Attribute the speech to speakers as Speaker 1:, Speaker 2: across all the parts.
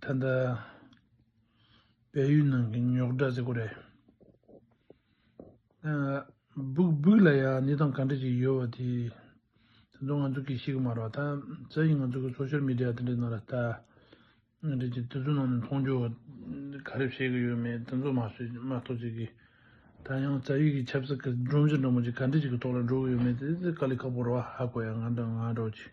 Speaker 1: ད་ལྟ་བལ་ཡུལ་ནང་གི་ཉོག་དྲ་ཟེར་དགོས་རེད། སྦུག་སྦུག་ལ་ཡང་གནས་སྟངས་ག་འདྲ་ཞིག་ཡོད་པ་དེ་ད་དུང་ང་ཚོ་གིས་ཤེས་ཀྱི་མ་རེད་བ། ད་གཟའ་ཡིས་ང་ཚོ་གི Social Media དེ་འདྲའི་ནང་ལ་ལྟ། ང་འདྲ་ཅིག་དེ་ཚོའི་ནང་ནས་མཐོང་རྒྱུ་ག་རེ་བཤད་ཀྱི་ཡོད་མེད་དེ་ཚོ་མ་ཤེས་མ་གཏོགས་ཅིག་གིས། ད་ཡང་གཟའ་ཡིས་ཀྱི་ཆབ་སྲིད་ཀྱི་སྒྲོམ་གཞི་འདྲ་མོ་ཅིག་ག་འདྲ་ཞིག་གི་ཐོག་ལ་འགྲོ་གི་ཡོད་མེད་དེ་དཀའ་ལས་ཁག་པོ་རེད་བ་ཧ་གོ་ཡ་ང་འདྲ་ང་འདྲ་བ་ཅིག།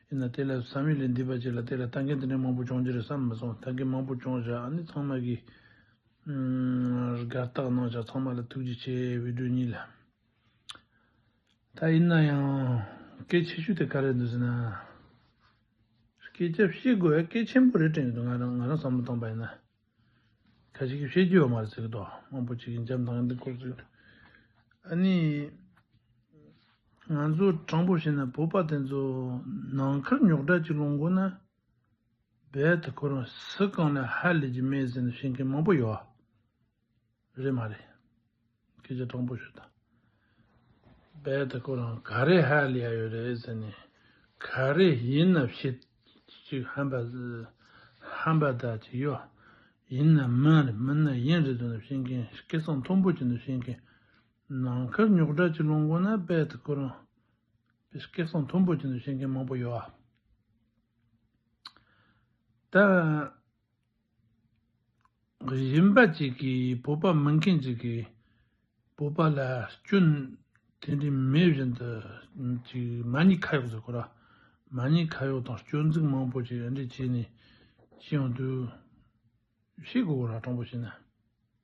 Speaker 1: ཡིན་ན་དེ་ལས་བསམ་ཡུལ་ལས་འདས་པ་ཅིག་ལ་དེ་ལ་ལྟ་མཁན་དེ་འདྲའི་མང་པོ་འབྱུང་རྒྱུ་རེད་བསམ་མི་སོང་ད་གིན་མང་པོ་འབྱུང་བཞག་ཨ་ནི་ཚང་མ་གིས། སྒར་བཏགས་གནང་བཞག་ཚང་མ་ལ་ཐུགས་རྗེ་ཆེ་བི་ཀྲོ་གཉིས་ལ། ད་ཡིན་ན་ཡང། སྐད་ཆེ་ཤོས་དེ་ག་རེད་འདུག་ཟེར་ན། སྐད་ཆ་བཤད་དགོས་ཡ་སྐད་ཆེན་པོ་རེད་དྲན་གྱི་འདུག་ང་རང་བསམ་བློ་བཏང་པ་ཡིན་ན། ཁ་ཅིག་གིས་ཤེས་ཀྱི་ཡོད་མ་རེད་ཟེར་གི་འདུག་དབང་པོ་གཅིག་གིས་འཇམ་དབྱངས་འདི་འཁོར་ཚུལ། ཨ་ནི། ང་ཚོ་དྲང་པོ་བཤད་ན་བོད་པ་དེ་ཚོ་ནང་མཁར་ཉོག་དྲ་གཅིག་ལོངས་དགོས་ན། རྦད་དེ་ཁོ་རང་ཟི་རྐང་ལས་ཧ་ལས་ཀྱི་མེད་ཟེར་ནས་བཤད་མཁན་མང་པོ་ཡོད། རེད་མ་རེད། སྐད་ཆ་སྟྲོང་པོ་ཞུ་དང། བལ་དེ་ཁོ་རང་ག་རེ་ཧ་ལས་ཡ་ཡོད་རེད་ཟེར་ནས་ག་རེ་ཡིན་ནབ་བཤད་ཅིག་ཧམ་པ་ཧམ་པ་དག་ཅིག་གཡོ་ཡིན་ནམ་མིན་རེད་མིན་ན་ཡིན་རེད་དུ་ནབ་བཤད་མཁན་སྐད་གསང་མཐོན་པོ་ཅིག་ནབ་བཤད་མཁན་ནང་ཁར་ཉོག་དྲ་ཅིག་སློང་དགོས་ན་བལ་དེ་ཁོ་རང་བལ་སྐད་གསང་མཐོན་པོ་ཅིག་ནབ་བཤད་མཁན་མང་པོ་ཡོད་ཨ། ད། གཞན་པ་ཅིག་གིས་བོད་པ་མིན་མཁན་ཅིག་གིས་བོད་པ་ལ་སྐྱོན་དེ་འདྲའི་མེད་བཞིན་དུ་ཅིག་མ་ཉེས་ཁ་ཡོག་ཟེར་གོ་ར་མ་ཉེས་ཁ་ཡོག་དང་སྐྱོན་འཛུགས་མང་པོ་ཅིག་འདྲ་བྱས་ནས་ཤི་ཡོང་དུས་ཤི་དགོས་གོ་ར་དྲང་པོ་བྱས་ན།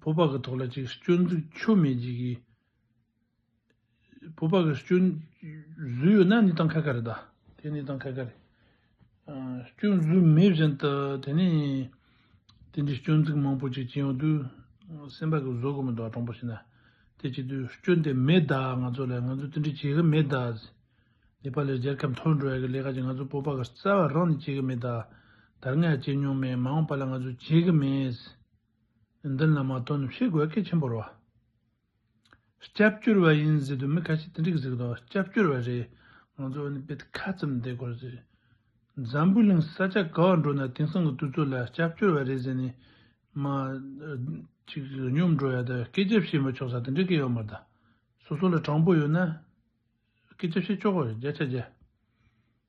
Speaker 1: ཕོ་ཕག་གི་ཐོག་ལ་ཅིག་སྐྱོན་འཛུགས་ཆོ་མེད་ཅིག་གིས། ཕོ་ཕག་གི་སྐྱོན་བཟོས་ཡོད་ན་ནི་ཏང་ཁ་ཁ་རེད་ད། དེ་ནི་ཏང་ཁ་ཁ་རེད། སྐྱོན་བཟོས་མེད་བཞིན་དུ་དེ་ནི་དེ་འདྲའི་སྐྱོན་འཛུགས་མང་པོ་ཅིག་བྱས་ཡོང་དུས་སེམས་པ་གི་བཟོད་སྒོ་མི་འདུག་ཨ་དྲང་པོ་བྱས་ན་དེ་བྱེད་དུས་སྐྱོན་དེ་མེད་ད་ང་ཚོ་ལས་ང་ཚོ་དེ་འདྲའི་བྱེད་གི་མེད་ད། ནེ་པ་ལའི་རྒྱལ་ཁབ་འཐོར་འགྲོ་ཡ་གི་ལས་ཀ་ཅིག་ང་ཚོ་ཕོ་ཕག་གི་རྩ་བ་རང་ནས་བྱེད་གི་མེད་ད། དར་ནག་བྱེད་མྱོང་མེད་མ་འོངས་པ་ལ་ང་ཚོ་བྱེད་གི་མེད། འདི་ལ་མ་དོ་ནུབ་ཤེས་དགོས་གལ་ཆེན་པོ་རེད། སྐྱབས་བཅོལ་བ་ཡིན་ཟེར་དུས་མི་ཁ་ཤས་དེ་འགྲིག་ཟེར་གི་འདུག་སྐྱབས་བཅོལ་བ་རེད་ང་ཚོ་ནི་དཔེ་ཁ་ཙམ་བསྡད་དགོས་རེད། འཛམ་བུའི་གླིང་ས་ཆ་ག་བར་འགྲོ་ན་དེང་སང་གི་དུས་ཚོད་ལ་སྐྱབས་བཅོལ་བ་རེད་ཟེར་ནས་མ་ཅིག་སྙོམས་འགྲོ་ཡ་དང་སྐད་ཆ་བཤད་མ་ཆོག་ས་དེ་འདྲའི་སྐད་ཡོད་མ་རེད། སོ་སོ་ལ་དྲང་པོ་ཡོད་ན་སྐད་ཆ་བཤད་ཆོག་གི་རེད་བརྒྱ་ཆ་བརྒྱ།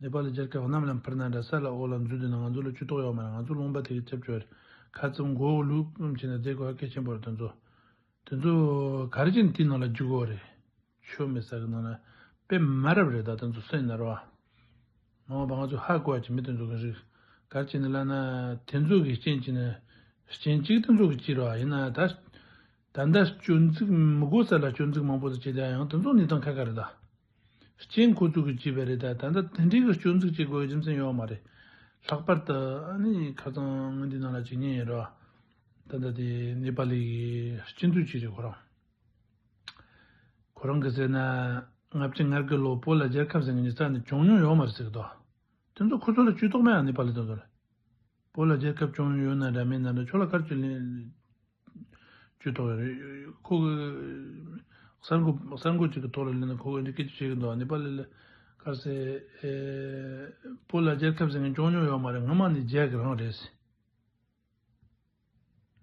Speaker 1: ནེ་པ་ལའི་རྒྱལ་ཁབ་གནམ་ལམ་འཕུར་ན་འདྲ་ས་ལ་འོག་ལ་འཛུལ་དུས་ན་ང་ཚོ་ལ་ཆུ་གཏོགས་ཡོག་མ་རེད་ང་ཚོ་རླུང་བ་དེ་གི་ཁྱབ་ཆོས་རེད་ཁ་ཙུམ་མགོ་བོ་ལུག་ཙུམ་བྱས་ནས་བསྡད་དགོས་ཨ་སྐད་ཆེན་པོ་རེད་དེ་ཚོ་དེ་ཚོ་ག་རེ་བྱས་ནས་དེའི་ནང་ལ་འཇུག་དགོས་རེད་ཆུ་མེད་ས་གི་ནང་ལ་དཔེ་མ་རབ་རེད་ད་དེ་ཚོ་སེམས་ནར་བ་མ་འོངས་པ་ང་ཚོ་ཧ་གོ་བ་གྱི་མི་དེ་ཚོ་གི་རིགས་ག་རེ་བྱས་ནས་བླ་ན་དེ་ཚོ་གི་རྐྱེན་གྱིས་ནས་རྐྱེན་གཅིག་དེ་ཚོ་གི་བྱས་ར་བ་ཡིན་ན་ད་ད་ལྟ་སྐྱོན་འཛུགས་མི་དགོས་ས་ལ་སྐྱོན་འཛུགས་མང་པོ་ཟེར་བྱས་བསྡད་ཡང་དེ་ཚོ་ནི་དང་ཁ་ཁ་རེད་ད། སྐྱེས་འཁོར་ཚུགས་ཀྱི་བྱས་པས་རེད་ད། ད་ལྟ་དེ་འདྲའི་གི་སྐྱོན་འཛུགས་བྱེད་དགོས་རྒྱུ་མཚན་ཡོད་མ་རེད། ལྷག་པར་དུ་ཨ་ནི་ཁ་ཚང་ངོས་འདི་ནང་ལ་བྱེད་ཉེན་ཡོད་རེད་བ། ད་ལྟ་དེ་ནེ་པ་ལི་གི་སྐྱིད་འཛུགས་བྱས་རེད་ཁོ་རང། ཁོ་རང་གི་ཟེར་ན་ང་བྱེད་ངར་གི་ལོ་པོ་ལ་རྒྱལ་ཁབ་ཟེར་ནི་ཙང་ནི་བྱུང་མྱོང་ཡོད་མ་རེད་ཟེར་གི་འདུག་དེ་ཚོ་ཁོ་ཚོ་ལ་བཅུད་ཐོག་མའི་ཨ་ནེ་པ་ལི་དང་ལོ་པོ་ལ་རྒྱལ་ཁབ་བྱུང་མྱོང་ཡོད་ན་འདྲ་མིན་ན་འདྲ་ཁྱོད་ལ་སྐར་བཅུ་ལས། ཅུས་ཐོག་ཁོ་གསར་འགོད་གསར་འགོད་ཅིག་གི་ཐོག་ལ་གླེང་ན་ཁོ་འདི་སྐད་ཅེས་བཤད་ཀྱི་འདུག་ནེ་པ་ལི་ལ་ཁར་སའི་སྤོ་ལ་རྒྱལ་ཁབ་ཟེར་མཁན་ཅོང་ཉུང་ཡོད་མ་རེད་ང་མ་ནི་རྒྱལ་གི་རང་རེད།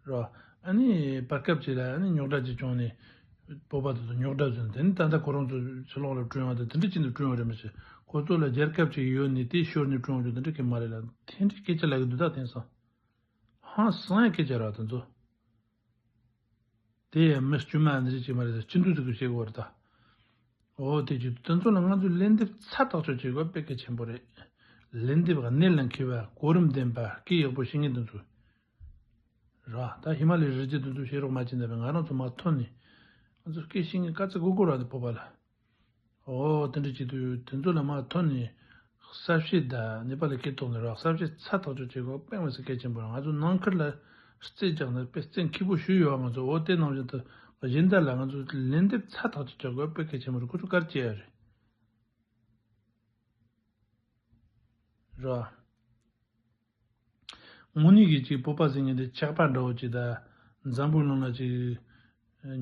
Speaker 1: རོ། ཨ་ནི་བར་སྐབས་ཅིག་ལ་ཨ་ནི་ཉོག་དྲ་ཅིག་བྱུང་ནས་སྤོ་པ་དེ་ཚོ་ཉོག་དྲ་ཟེར་དེ་ནི་ད་ལྟ་ཁོ་རང་ཚོ་ཕྱི་ལོག་ལ་བསྐྲུན་ཡོང་དེ་འདི་འདྲ་ཅིག་ནས་བསྐྲུན་ཡོང་རེད་མ་ཤེས་ཁོ་ཚོ་ལ་རྒྱལ་ཁབ་ཅིག་ཡོད་ནི་དེ་ཤོར་ནས་བསྐྲུན་ཡོང་རྒྱུ་འདི་འདྲ་སྐད་མ་རེད་ལ་དེ་འདྲའི་སྐད་ཆ་ལབ་ཀྱི་འདུག་ད་དེང་སང། ཧང་སངས་སྐད་ཆ་རག་དེ་ཚོ། དེ་ཡང་མི་དཀྱུས་མ་འདི་རིགས་ཅིག་མ་རེད་ད་སྤྱི་འཐུས་ཚོ་གིས་བྱེད་དགོས་རེད་ད། འོ་དེ་བྱེད་དུས་དེ་ཚོ་ལ་ང་ཚོས་ལན་འདེབས་ཚ་ཐག་ཆོད་བྱེད་དགོས་པ་དཔེ་གལ་ཆེན་པོ་རེད། ལན་འདེབས་ག་ནད་ལ་འཁེལ་བ་གོ་རིམ་ལྡན་པ་སྐད་ཡག་པོ་བཤད་མཁན་དེ་ཚོ་རག་ད་ཧི་མ་ལའི་རི་རྩེ་དེ་ཚོ་བཤད་རོགས་མ་བྱེད་འདོད་པའི་ང་རང་ཚོ་མ་ཐོན་ནས་ང་ཚོ་སྐད་བཤད་མཁན་དཀའ་ཚེགས་སྒུག་སྒུག་རག་དེ་ཕོ་པ་ལ། ཨོ་དེ་འདྲ་བྱེད་དུས་དེ་ཚོ་ལ་མ་མཐོང་ནས་གསར་བཤད་དང་ནེ་པ་ལ་ཁེལ་དོགས་ནས་རོགས་གསར་བཤད་ཚ་ཐག་ཆོད་བྱེད་དགོས་པ་པེང་བ་སི་གལ་ཆེན་པོ་རེད་ང་ཚོ་ནང་ཁུལ་ལ་རྩེད་རྒྱག་ནས་པེ་རྩེད་མཁས་པོ་ཞུ་ཡོད་བ་ང་ཚོ་འོ་དེ་ནང་བཞིན་དུ་གཞན་དག་ལ་ང་ཚོ་ལན་འདེབས་ཚ་ཐག་ཆོད་བྱ་དགོས་པ་གལ་ཆེན་པོ་རེད་ཁོ་ཚོ་གར་སྐྱེལ་ཡ་རེད། ངུ་ནི་གིས་ཅིག་སྤོབས་པ་ཟིན་ངན་དེ་ཆགས་པ་འདྲ་བོ་ཅིག་དང། འཛམ་བུའི་ཀླུང་ན་ཅིག།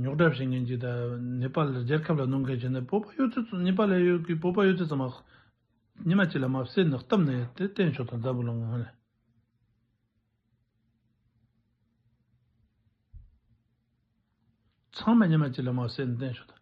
Speaker 1: ཉོག་དྲ་བྱེད་མཁན་ཅིག་དང། ནེ་པ་ལ་རྒྱལ་ཁབ་ལ་གནོང་མཁན་ཅིག་ནི་སྤོབས་པ་གཡོ་ཚོད་ནེ་པ་ལའི་གཡོ་གིས་སྤོབས་པ་གཡོ་ཚོད་ཙམ་མ། ཉི་མ་གཅིག་ལ་མ་བསད་ནི་སྟབས་ནི་དེ་བསྟན་ཆོག་དང་འཛམ་བུའི་ཀླུང་ན། ཚང་མ་ཉི་མ་གཅིག་ལ་མ་བསད་ནི་བསྟན་ཆོག་དང།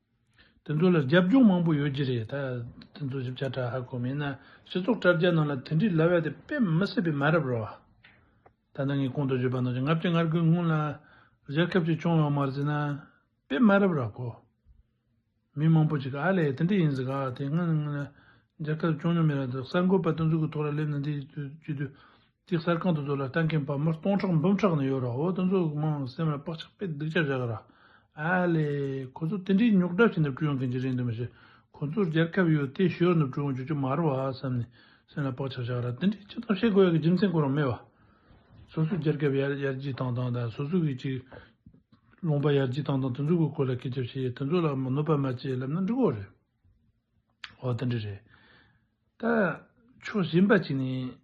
Speaker 1: དེ་ཚོ་ལ་རྒྱབ་སྐྱོར་མང་པོ་ཡོད་ཀྱི་རེད་ད། དེ་ཚོ་ཞིབ་ཆ་དྲ་ཧ་གོ་མིན་ན་སྤྱི་ཚོགས་དྲ་རྒྱ་ནང་ལ་དེ་འདྲི་ལ་བས་དེ་དཔེ་མི་སྲིད་པའི་མ་རབ་རོ། ད་ནི་ངས་གོང་དུ་བརྗོད་པ་ནང་བཞིན་ལྔ་བརྒྱ་ལྔར་དགོས་སྔོན་ལ་རྒྱལ་ཁབ་ཅིག་སྐྱོང་ཡོང་མ་རྩིས་ན་དཔེ་མ་རབ་ར་གོ། མི་མང་པོ་ཅིག་གིས་ཨ་ལས་དེ་འདྲི་ཡིན་ཟིག་ག་དེ་སྔོན་ལ་རྒྱལ་ཁབ་སྐྱོང་མྱོང་མེད་ར་འདུག་གསར་འགོད་པ་དེ་ཚོ་གི་ཐོག་ལ་སླེབས་ནས་འདི་བརྒྱུད་དུས། དེ་གསར་ཁང་དུ་འཛུལ་ལ་ལྟ་མཁན་བར་མར་སྟོང་ཕྲག་འབུམ་ཕྲག་ནས་ཡོད་ར་འོ་ད་ཚོ་གི་དམངས་ལ་སེམས་ལ་བག་ཆགས་དཔེ་སྡིག་ཅག་བཞག་གི་ར་ཨ་ལས། ཁོ་ཚོ་དེ་འདྲའི་རྙོག་གྲ་ཆེ་འདབ་བཅུ་ཡོང་མཁན་གྱི་རེད་འདོད་མི་ཤེས་ཁོ་ཚོར་རྒྱལ་ཁབ་ཡོད་དེ་ཞོར་འདབ་བཅུ་ཡོང་རྒྱུ་ཅུ་མ་རུ་བ་བསམ་ནས་སེམས་ལ་བག་ཆགས་བཞག་གི་ར་དེ་འདྲའི་ཅི་ཙམ་བཤད་དགོས་ཡ་གི་རྒྱུ་མཚན་གོ་རང་མེད་བ། སོ་སོའི་རྒྱལ་ཁབ་ཡར་རྒྱས་བཏང་བཏང་དང་སོ་སོ་གི་ཅིག་ལོང་པ་ཡར་རྒྱས་བཏང་བཏང་དེ་ཚོ་གི་སྐོར་ལ་སྐད་ཆ་བཤད་དེ་ཚོ་ལ་གནོད་པ་མ་བྱེད་ལབ་ན་འགྲིག་གོ་རེད་འོ་དེ་འདྲ་རེད། ད་ཕྱོགས་གཞན་པ་ཅིག་ནས།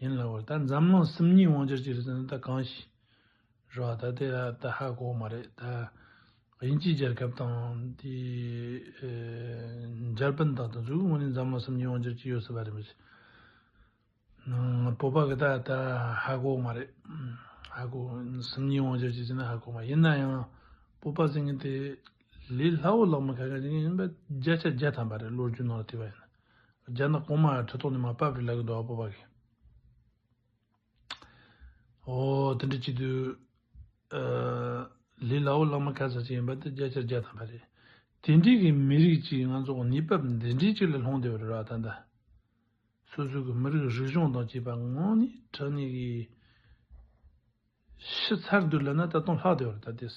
Speaker 1: ཡིན་ལ་བར་ད་འཛམ་གླིང་སིམ་ཉིད་དབང་ཆར་གྱི་རི་ཟན་ད་གང་ཞིག་རེད་བ་ད་དེ་ད་ད་ཧ་གོ་མ་རེད་ད་དབྱིན་ཇིའི་རྒྱལ་ཁབ་དང་དེ་འཇར་པན་དང་དང་ཟུག་དངོས་ནས་འཛམ་གླིང་སིམ་ཉིད་དབང་ཆར་གྱི་ཡོད་སྲིད་པ་རེད་མི་ཤེས་བོད་པ་གི་ད་ད་ཧ་གོ་མ་རེད་ཧ་གོ་སིམ་ཉིད་དབང་ཆར་གྱི་ཟེར་ན་ཧ་གོ་མ་ཡིན་ན་ཡང་བོད་པ་ཟེར་མཁན་དེ་ལས་སླ་བོ་ལགས་མི་ཁ་ཁ་ཟེར་མཁན་ཡིན་པ་བརྒྱ་ཆ་བརྒྱ་ཐམ་པ་རེད་བློ་རྒྱུ་ནང་ལ་ཐིག་པ་ཡིན་ན་རྒྱ་ནག་གོང་མ་ཁྲི་ཐོག་ནས་མ་བབས་རི་ལ་གི་འགྲོ་བ་པོ་བ་གི། ཨོ་དེ་འདྲ་གཅིག་དུས། ལི་ལའོ་བླ་མ་ག་ས་ཅིག་ཡིན་པ་དེ་རྒྱ་ཆེར་རྒྱ་དམ་པ་རེད། དེ་འདྲས་གི་མི་རིགས་གཅིག་ང་ཚོ་གཉིས་བབས་འདི་འདྲས་གཅིག་ལ་ལྷུང་བསྡད་པ་རེད་ར་ད་ལྟ། སོ་སོ་གི་མི་རིགས་རིག་གཞུང་དང་བཅས་པ་ངོ་ནི་བྲག་ནི་གི། ཤི་ཚར་འདུག་ལབ་ན་ད་དུང་ལྷག་བསྡད་པ་རེད་ད་ལྟས།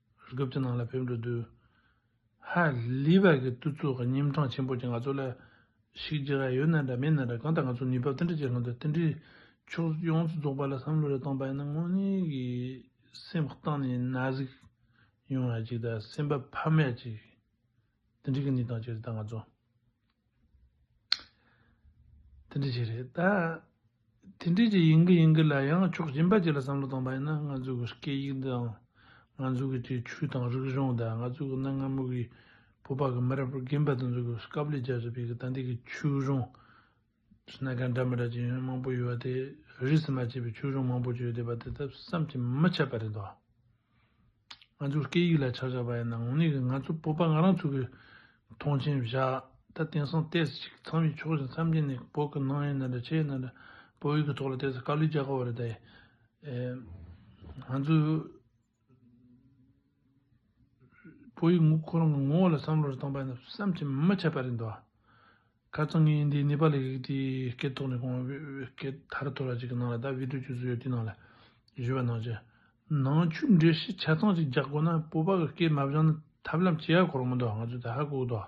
Speaker 1: རྒྱུ་བརྒྱུད་ནང་ལ་ཕེབས་འགྲོ་དུས། ཧ་ལི་བར་གྱི་བསྟུད་ཚོགས་ཀྱི་གཉིས་འཕྲང་ཆེན་པོ་ཀྱིས་ང་ཚོ་ལ། ཞིག་རྒྱུ་ར་ཡོད་ན་འདྲ་མེད་ན་འདྲ་གང་ལྟར་ང་ཚོ་ནུས་བབ་ཏན་ཏིག་ཅིག་ལྷག་འདུག་ཏན་ཏིག་ཕྱོགས་ཡོངས་སུ་རྫོགས་པ་ལ་བསམ་བློ་རེ་བཏང་པ་ཡིན་ན་དངོས་གནས་ཀྱི་སེམས་གཏིང་ནས་ན་ཟུག་ཡོང་ཡ་ཅིག་དང་སེམས་པ་ཕམ་ཡ་ཅིག། ཏན་ཏིག་གི་གནས་སྟངས་ཅིག་རེད་ད་ང་ཚོ། དེ་འདྲ་ཞིག་རེད་ད། དེ་འདྲ་ཞིག་ཡིན་གྱི་ཡིན་གྱི་ལ་ཡང་ཕྱོགས་གཞན་པ་ཅིག་ལ་བསམ་བློ་གཏོང་པ་ཡིན་ན་ང་ཚོའི་གི་སྐད་ཡིག་འདི་འང་ང་ཚོའི་གི་སྤྱིའི་ཆོས་དང་རིག་གཞུང་དང་ང་ཚོའི་གི་གནའ་སྔ་མོ་གི་བོད་པ་གི་མི་རབས་རྒན་པ་དེ་ཚོ་གི་སྐབས་ལས་རྒྱ་བཟོ་པའི་གི་ད་ལྟའི་གི་ཆོས་གཞུང། གནས་གང་འདྲ་མི་འདྲ་ཅི་ཡོད་མང་པོ་ཡོད་པ་དེ་རིས་སུ་མ་ཆད་པའི་ཆོས་གཞུང་མང་པོ་བརྗོད་བསྡད་པ་དེ་དག་བསམ་གྱིས་མི་ཁྱབ་པ་རེད་དོ། ང་ཚོའི་སྐད་ཡིག་ལ་ཆག་ཆག་པ་ཡིན་ན་ངོ་ནས་ང་ཚོའི་སྤོབས་པ་ང་རང་ཚོ་གིས་མཐོང་ཆེན་བཞག་ད་དེང་སང་ལྟས་ཟིག་ཅིག་ཚང་མས་ཕྱོགས་བཞི་མཚམས་བརྒྱད་ནས་བོད་ཀྱི་ནང་ཡིན་ན་འདྲ་ཕྱི་ཡིན་ན་འདྲ་བོད་ཡིག་གི་ཐོག་ལ་ལྟས་ཟིག་དཀའ་ལས་རྒྱག་གི་འོ་རེད་ད། ང་ཚོའི། ཕོ་ཡིག་ངུ་ཁོ་རང་གི་ངོ་བོ་ལ་བསམ་བློ་རེ་བཏང་པ་ཡིན་ན་བསམ་གྱིས་མ་ཁྱབ་པ་རེད་འདུག་ཁ་རྩང་ངས་འདི་ནེ་པ་ལི་གི་དེའི་སྐད་ཐོག་ནས་གོང་བའི་སྐད་ཐར་ཐོར་བ་ཅིག་གི་ནང་ལ་ད་བིད་དྲོ་བྱོས་སུ་ཡོད་དེའི་ནང་ལ་བཞུ་བ་ནང་བྱས་ནང་ཆུ་འདྲེ་ཤི་ཆ་ཚང་ཅིག་རྒྱག་དགོས་ན་སྤོ་པ་གི་སྐད་མ་བཞང་ན་ཐབས་ལམ་སྐྱེ་ཡ་གོ་རང་མི་འདུག་ང་ཚོས་ད་ཧ་གོ་གི་འདུག།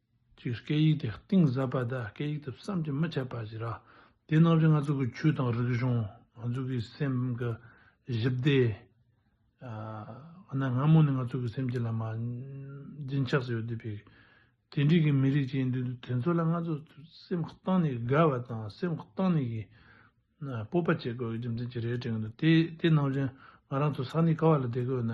Speaker 1: ཅིག། སྐད་ཡིག་དེ་གཏིང་ཟབ་པ་དང་སྐད་ཡིག་དེ་བསམ་གྱིས་མི་ཁྱབ་པ་ཞིག་རེད། དེ་རྣམས་ཀྱིས་ང་ཚོ་གི་ཆོས་དང་རིག་གཞུང། ང་ཚོ་གི་སེམས་ཀྱི་བཞི་བདེ། འོ་ན་སྔ་མོ་ནས་ང་ཚོ་གི་སེམས་ཀྱི་ལ་མ། རྒྱུན་ཆགས་སུ་ཡོད་དུས་པའི། དེ་འདྲིས་ཀྱི་མི་རིགས་ཅིག་ཡིན་དུས་དེ་ཚོ་ལ་ང་ཚོ་སེམས་གཏིང་ནས་དགའ་བ་དང་སེམས་གཏིང་ནས་གི། སྤོབས་པ་བྱེད་དགོས་རྒྱུ་མཚན་ཅིག་རེད་དྲན་གི་འདུག་དེ་རྣམས་ཀྱིས་ང་རང་ཚོ་ས་གནས་ག་བ་ལ་བསྡད་དགོས་ན།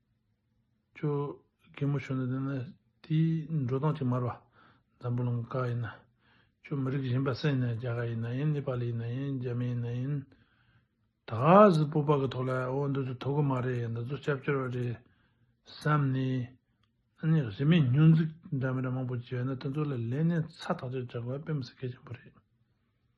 Speaker 1: ཅོ་གེ་མོ་ཆོས་འདི་ནི་དེའི་འགྲོ་སྟངས་ཀྱིས་མར་བ་འཛམ་བུ་ལོང་ཀ་ཡི་ན་ཅོ་མི་རིགས་གཞན་པ་སེ་ན་རྒྱ་གར་ཡི་ན་ཡིན་ནེ་པ་ལི་ཡི་ན་ཡིན་རྒྱ་མི་ཡི་ན་ཡིན། ད་གཟིགས་སྤོབས་པ་གི་ཐོག་ལ་འོ་འདི་ཚོ་ཐུག་གི་མ་རེད་འདི་ཚོ་སྐྱབས་བཅོལ་བ་རེད་བསམ་ནས་ཨཱ་ནི་གཞི་མེད་སྙུན་གཟིགས་འདྲ་མི་འདྲ་མང་པོ་བྱས་ན་དེ་ཚོ་ལ་ལན་ནས་ཚ་ཐག་ཆོད་རྒྱག་དགོས་པ་དཔེ་མི་སྲིད་གལ་ཆེན་པོ་རེད།